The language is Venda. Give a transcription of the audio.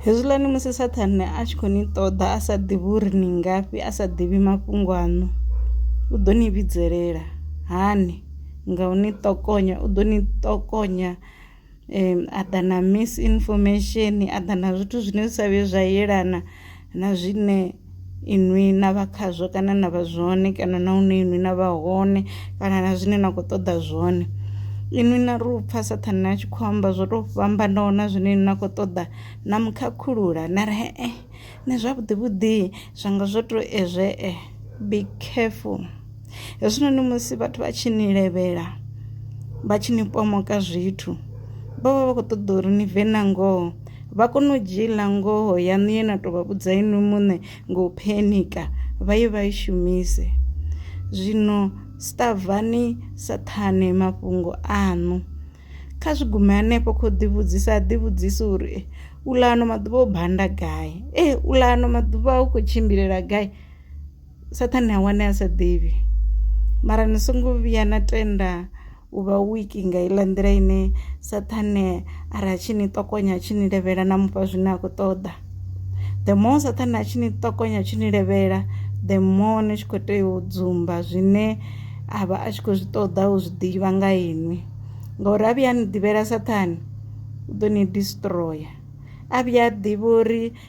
Hezwiḽani musi Saṱhane a tshi khou ni ṱoḓa a sa ḓivhi uri ni ngafhi, a sa ḓivhi mafhungo aṋu, u ḓo ni vhidzelela hani nga u ni ṱokonya, u ḓo ni ṱokonya a ḓa na misinfomesheni, a ḓa na zwithu zwine zwi sa vhuye zwa yelana. na zwine inwi na vha khazwo kana na vha zwone kana na hune inwi na vha hone kana na zwine na khou ṱoḓa zwone inwi na ri u pfa sathane a tshi khou amba zwo tou fhambanaho na zwine inwi na khou ṱoḓa na mukhakhulula na ri he eh, nṋe zwavhuḓi vhuḓi zwanga zwo tou ezwe eh be careful hezwinoni musi vhathu vha tshi ni levhela vha tshi ni pomoka zwithu vha vha vha khou ṱoḓa uri ni bve na ngoho vha kone u dzhiela ngoho yaṋu ye na tou vha vhudza inwi muṋe nga u phenika vha ye vha i shumise zwino stavhani saṱhane mafhungo aṋu kha zwi gume hanefho khou ḓivhudzisa a ḓivhudzisa uri eh, u ḽa ano maḓuvha o banda gai e eh, u ḽa ano maḓuvha u khou tshimbilela gai Saṱhane ha wane a sa ḓivhi mara ni songo vhuya na tenda u vha wiki nga iḽa nḓila ine saṱhane a ri a tshi ni ṱokonya a tshi ni levhela na mufha zwine a khou ṱoḓa the more saṱhane a tshi ni ṱokonya a tshi ni levhela the more ni tshi khou tea u dzumba zwine a vha a tshi khou zwi ṱoḓa u zwi ḓivha nga inwi ngauri a vhuya a ni ḓivhela saṱhane u ḓo ni destroyer a vhuya a ḓivha uri